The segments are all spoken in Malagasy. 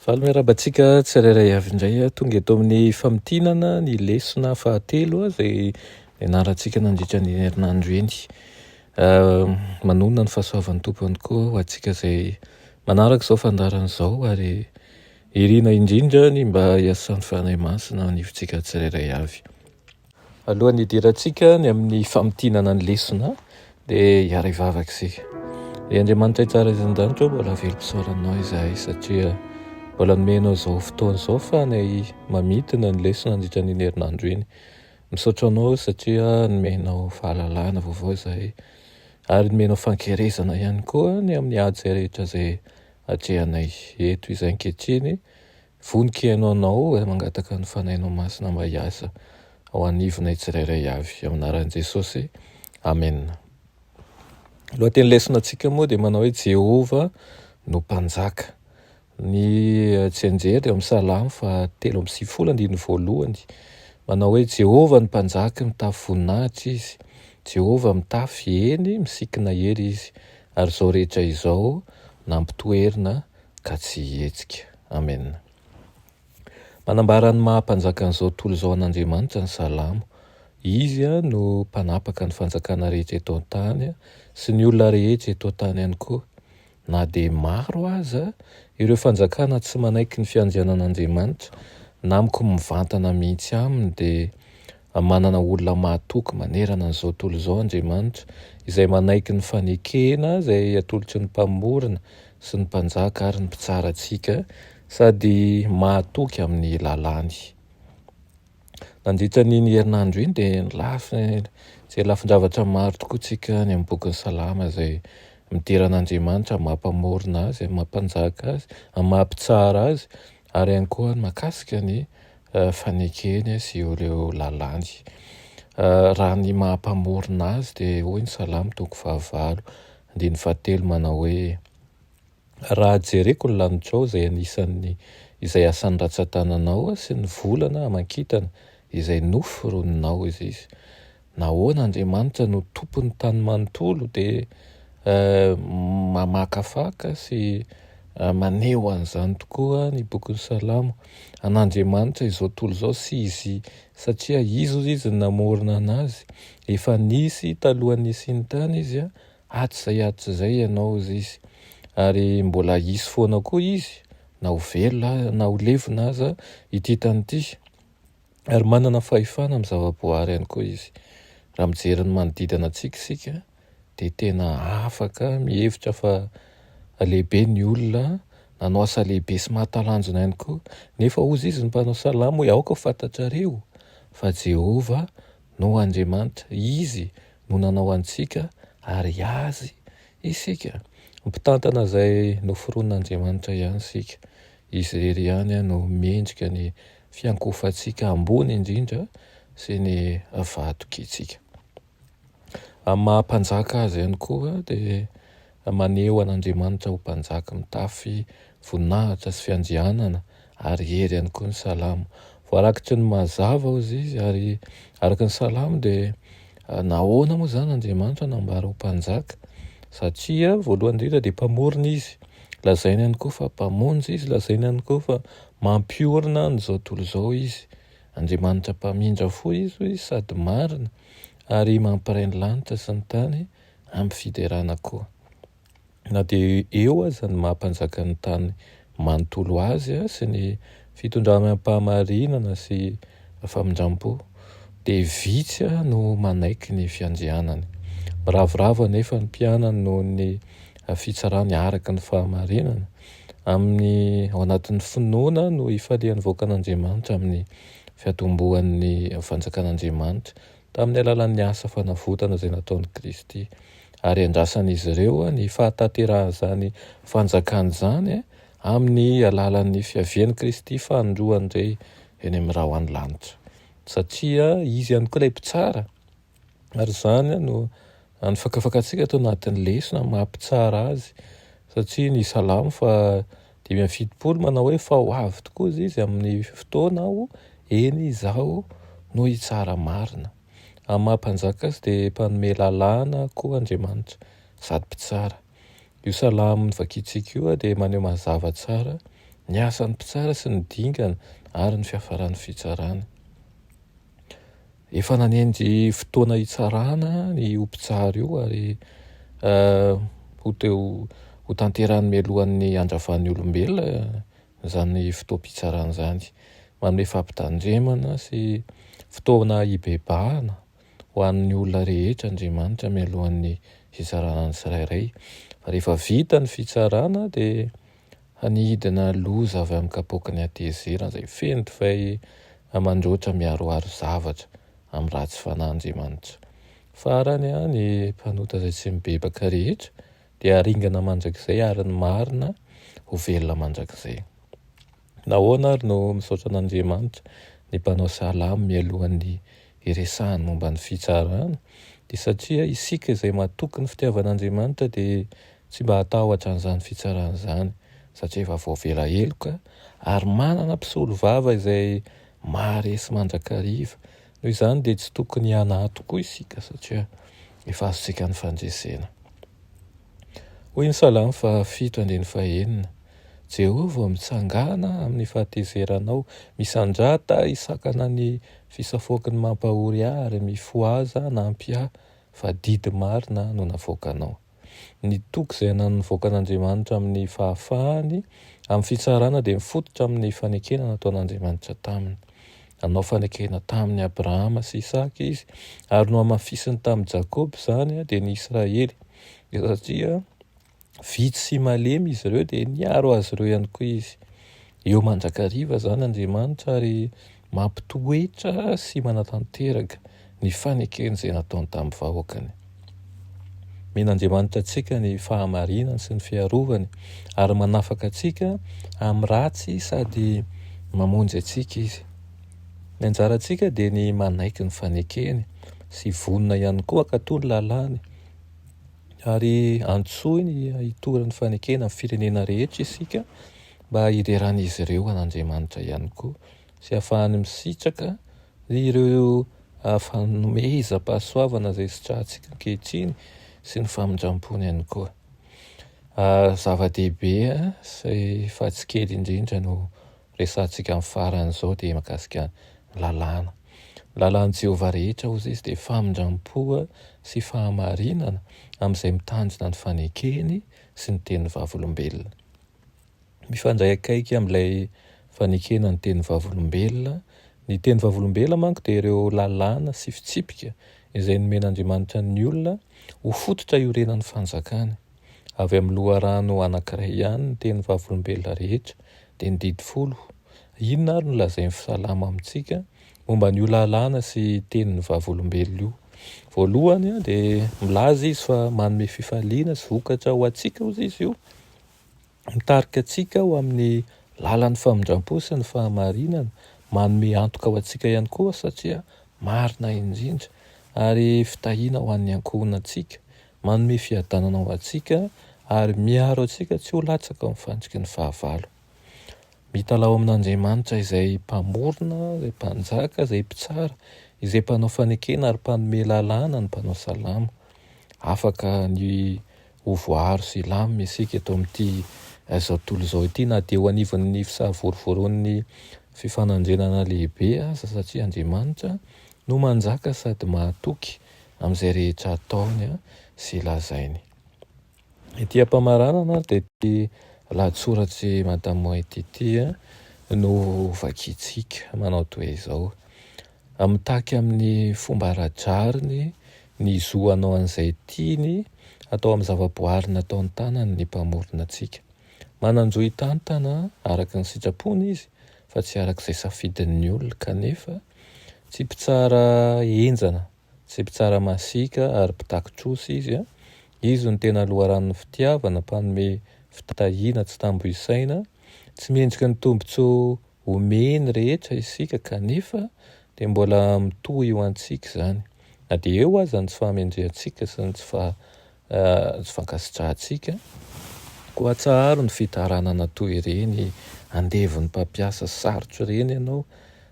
Valo miarahaba antsika tsirairay avy indray. Tonga eto amin'ny famintinana ny lesona fahatelo izay nianarantsika nandritra ny herinandro eny. Manonona ny fahasoavan'ny Tompo ihany koa ho antsika izay manaraka izao fandaharana izao ary irina indrindra ny mba hiasan'ny Fanahy Masina hanivontsika tsirairay avy. Alohan'ny hidirantsika ny amin'ny famintinana ny lesona dia hiara hivavaka isika. Ry Andriamanitra tsara izay an-danitra, mbola velom-pisaoranao izahay satria mbola nomenao izao fotoana izao fanay mamintina ny lesona nandritra ny herinandro iny. Misaotra anao satria nomenao fahalalana vaovao izahay ary nomenao fankerezana ihany koa ny amin'ny ady izay rehetra izay atrehanay eto izay ankehitriny. Vonon-kiaino anao ary mangataka ny Fanahinao Masina mba hiasa ao anivonay tsirairay avy, amin'ny anaran'i Jesosy, amena. Ny lohatenin'ny lesonantsika moa dia manao hoe Jehovah no Mpanjaka. Ny tsianjery dia ao amin'ny Salamo fahatelo amby sivifolo, andininy voalohany, manao hoe Jehovah no Mpanjaka, mitafy voninahitra Izy. Jehovah mitafy, eny, misikina hery Izy, ary izao rehetra izao nampitoerina ka tsy hihetsika. Amen. Manambara ny maha Mpanjakan'izao tontolo izao an'Andriamanitra ny Salamo. Izy no mpanapaka ny fanjakana rehetra eto an-tany sy ny olona rehetra eto an-tany ihany koa. Na dia maro aza ireo fanjakana tsy manaiky ny fiandrianan'Andriamanitra na mko mivantana mihitsy aminy dia Manana olona mahatoky manerana an'izao tontolo izao Andriamanitra, izay manaiky ny fanekena izay atolotry ny mpamorona sy ny mpanjaka ary ny mpitsara antsika, sady mahatoky amin'ny lalàny. Nandritra an'iny herinandro iny dia nilafy izay lafin-javatra maro tokoa isika any amin'ny bokin'ny Salamo izay midera an'Andriamanitra amin'ny maha-mpamorona Azy, amin'ny maha-mpanjaka Azy, amin'ny maha-mpitsara Azy, Ary ihany koa ny mahakasika ny fanekeny sy ireo lalàny. Raha ny maha mpamorona azy dia hoy ny Salamo toko fahavalo andininy fahatelo manao hoe, Raha jereko ny lanitrao izay anisan'ny izay asan'ny ratsan-tananao sy ny volana aman-kintana izay noforoninao, hoy izy, Nahoana Andriamanitra no tompon'ny tany manontolo dia mamakafaka sy maneho an'izany tokoa ny bokin'ny Salamo an'Andriamanitra izao tontolo izao sy izy satria izy ozy izy namorona anazy efa nisy talohan'ny nisian'ny tany izy hatrizay hatrizay ianao ozy izy ary mbola hisy foana koa izy na ho velona na ho levona aza ity tany ity Ary manana fahefana amin'ny zava-boahary ihany koa izy. Raha mijery ny manodidina antsika isika dia tena afaka mihevitra fa lehibe ny olona, nanao asa lehibe sy mahatalanjona ihany koa. Nefa hozy izy ny mpanao salamo hoe aoka ho fantatrareo fa Jehovah no Andriamanitra, izy no nanao antsika ary azy isika no mpitantana izay noforonin'Andriamanitra ihany isika. Izy irery ihany no mendrika ny fiankofantsika ambony indrindra sy ny vatokintsika. Amin'ny maha Mpanjaka Azy ihany koa dia maneho an'Andriamanitra ho Mpanjaka mitafy voninahitra sy fiandrianana ary hery ihany koa ny Salamo. Voarakitry ny mazava hozy izy ary araka ny Salamo dia nahoana moa izany Andriamanitra nambara ho Mpanjaka? Satria voalohany indrindra dia Mpamorona Izy, lazaina ihany koa fa Mpamonjy Izy, lazaina ihany koa fa Mampiorina an' izao tontolo izao Izy. Andriamanitra mpamindra fo Izy hoy Izy sady marina, ary mampiray ny lanitra sy ny tany amin'ny fiderana koa. Na dia eo aza ny maha mpanjakan'ny tany manontolo Azy sy ny fitondrany amim-pahamarinana sy famindram-po, dia vitsy no manaiky ny fiandrianany. Miravoravo anefa ny mpianany noho ny fitsarany araka ny fahamarinana. Amin'ny ao anatin'ny finoana no ifalian'ny vahoakan'Andriamanitra amin'ny fiatombohan'ny fanjakan'Andriamanitra, tamin'ny alalan'ny asa fanavotana izay nataon'i Kristy, ary andrasan'izy ireo ny fahatanterahan'izany fanjakany izany amin'ny alalan'ny fiavian'i Kristy fanindroany indray eny amin'ny rahona lanitra, satria Izy ihany koa ilay Mpitsara. ary izany no any fakafakantsika ato anatin'ny lesona ny maha mpitsara azy satria ny salamo fa dimy amby fitopolo manao hoe fa ho avy tokoa izy izy amin'ny fotoana aho eny izaho no hitsara marina amin'ny maha mpanjaka azy dia mpanome lalàna koa Andriamanitra sady mpitsara io salamo novakintsika io dia maneho mazava tsara ny asan'ny mpitsara sy ny dingana ary ny fiafaran'ny fitsarana Efa nanendry fotoana hitsarana io mpitsara io ary ho teo ho tanterahany mialohan'ny handravan'ny olombelona izany fotoam-pitsarana izany. Manome fampitandremana sy fotoana hibebahana ho an'ny olona rehetra Andriamanitra mialohan'ny hitsarana ny tsirairay. Fa rehefa vita ny fitsarana dia Hanidina loza avy amin'ny kapoaky ny hatezerana izay feno divay aman-dRoatra miharoharo zavatra amin'ny ratsy fanahy Andriamanitra. Farany, ny mpanota izay tsy mibebaka rehetra dia haringana mandrakizay ary ny marina ho velona mandrakizay. Nahoana ary no misaotra an'Andriamanitra ny mpanao salamo mialohan'ny hiresahany momba ny fitsarana? Dia satria isika izay matoky ny fitiavan'Andriamanitra dia Tsy mba hatahotra an'izany fitsarana izany satria efa voavela heloka ary manana mpisolovava izay maharesy mandrakariva. Noho izany dia tsy tokony hanahy tokoa isika satria efa azontsika ny fandresena. Hoy ny Salamo fahafito andininy fahenina, Jehovah ô, mitsangàna amin'ny fahatezeranao, misandrata hisakana ny fisafoaky ny mampahory ahy ary mifohaza hanampy ahy, fa didy marina no navoakanao. Ny toky izay ananan'ny vahoakan'Andriamanitra amin'ny fahafahany amin'ny fitsarana dia mifototra amin'ny fanekena nataon'Andriamanitra taminy. Nanao fanekena tamin'i Abrahama sy Isaka Izy ary nohamafisiny tamin'i Jakoba izany, dia ny Israely, dia satria vitsy sy malemy izy ireo dia niaro azy ireo ihany koa Izy. Eo mandrakariva izany Andriamanitra ary mampitoetra sy manatanteraka ny fanekeny izay nataony tamin'ny vahoakany. Omena Andriamanitra antsika ny fahamarinany sy ny fiarovany ary manafaka antsika amin'ny ratsy sady mamonjy antsika Izy. Ny anjarantsika dia ny manaiky ny fanekeny sy vonona ihany koa hankatò ny lalàny. Ary antsoiny hitory ny fanekena amin'ny firenena rehetra isika, mba hideran'izy ireo an'Andriamanitra ihany koa sy hahafahany misitraka ireo fanomezam-pahasoavana izay sitrahantsika ankehitriny sy ny famindram-pony ihany koa. Zava-dehibe sy fa tsy kely indrindra no resahantsika amin'ny faran'izao dia mikasika ny lalàna. Ny lalàn'i Jehovah rehetra, hoy izy, dia famindram-po sy fahamarinana amin'izay mitandrina ny fanekeny sy ny tenin'ny Vavolombelona. mifandray akaiky amin'ilay fanekena ny teny vavolombelona. Ny teny vavolombelona manko dia ireo lalàna sy fitsipika izay nomen'Andriamanitra ny olona ho fototra iorenan'ny fanjakany. Avy amin'ny loharano anankiray ihany ny teny vavolombelona rehetra, dia ny didy folo. Inona ary no lazain'ny Salamo amintsika momba an'io lalàna sy tenin'ny vavolombelona io? Voalohany dia milaza izy fa manome fifaliana sy vokatra ho antsika hozy izy io. Mitarika antsika ho amin'ny lalan'ny famindram-po sy ny fahamarinana, manome antoka ho antsika ihany koa satria marina indrindra ary fitahiana ho an'ny ankohonantsika, manome fiadanana ho antsika ary miaro antsika tsy ho latsaka ao amin'ny fandriky ny fahavalo. Mitalaho amin'Andriamanitra izay Mpamorona, izay Mpanjaka, izay Mpitsara, izay Mpanao fanekena ary Mpanome lalàna ny mpanao salamo. Afaka ny Ho voaaro sy hilamina isika eto amin'ity izao tontolo izao ity na dia eo anivon'ny fisavorivoroan'ny fifanandrinana lehibe aza satria Andriamanitra no manjaka sady mahatoky amin'izay rehetra ataony sy lazainy. Ity ampamaranana dia ity lahatsoratr'i Madame White ity no vakintsika, manao toa izao, A Mitaky amin'ny fomba ara-drariny ny zo hanao an'izay tiany atao amin'ny zavaboary nataon-tanany ny Mpamorona antsika. Manan-jo hitantana araka ny sitrapony Izy fa tsy araka izay safidin'ny olona. Kanefa, tsy mpitsara henjana, tsy mpitsara masiaka ary mpitakin-trosa Izy. Izy no tena loharanon'ny fitiavana, mpanome fitahiana tsy tambo isaina, tsy mendrika ny tombontsoa Omey ny rehetra isika kanefa dia mbola mitohy ho antsika izany, na dia eo aza ny tsy fahamendrehantsika sy ny tsy fankasitrahantsika. Koa atsaharo ny fitaranana toy ireny andevon'ny mpampiasa sarotra ireny ianao.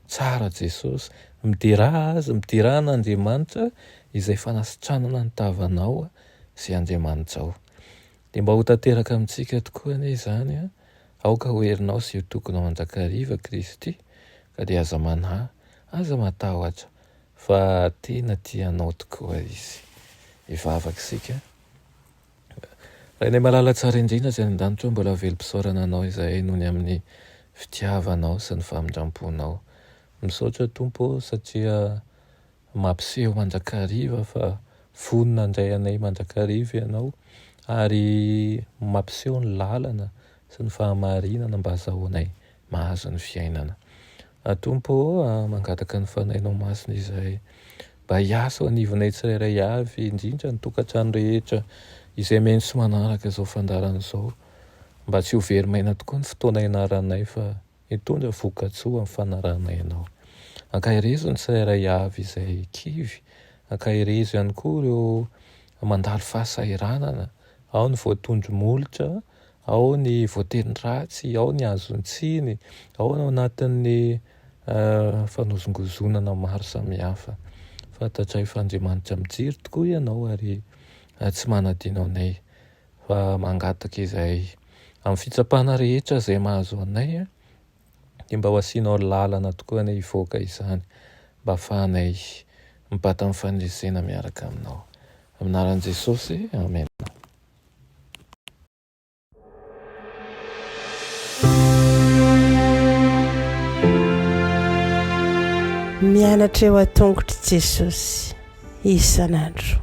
Tsara Jesosy, midera azy, midera an'Andriamanitra izay fanasitranana ny tavanao sy Andriamanitrao. Dia mba ho tanteraka amintsika tokoa anie izany, aoka ho herinao sy io tokonao an-drakariva Kristy, ka dia aza manahy, aza matahotra, fa tena tia anao tokoa Izy. Hivavaka isika. Rainay malala tsara indrindra Izay any an-danitra, mbola velom-pisaorana Anao izahay noho ny amin'ny fitiavanao sy ny famindram-ponao. Misaotra Tompo ô satria Mampiseho mandrakariva fa vonona handray anay mandrakariva Ianao, ary mampiseho ny lalana sy ny fahamarinana mba hazahoanay mahazo ny fiainana. A Tompo ô, mangataka ny Fanahinao Masina izahay mba hiasa ao anivonay tsirairay avy, indrindra ny tokantrano rehetra izay mihaino sy manaraka izao fandaharana izao, mba tsy ho very maina tokoa ny fotoana ianaranay fa Hitondra vokatsoa ny fanarahana ianao. Ankaherezo ny tsirairay avy izay kivy. Ankaherezo ihany koa ireo mandalo fahasahiranana, ao ny voatondro molotra, ao ny voateny ratsy, ao ny azon-tsiny, ao ny ao anatin'ny fanozongozonana maro samihafa. Fantatray fa Andriamanitra mijery tokoa ianao ary tsy manadino anay. fa mangataka izahay amin'ny fitsapana rehetra izay mahazo anay dia mba ho asianao lalana tokoa anie hivoaka izany mba afahanay mibata amin'ny faneresena miaraka aminao. Amin'ny anaran'i Jesosy, amena. Mianatra eo an-tongotr'i Jesosy isan'andro.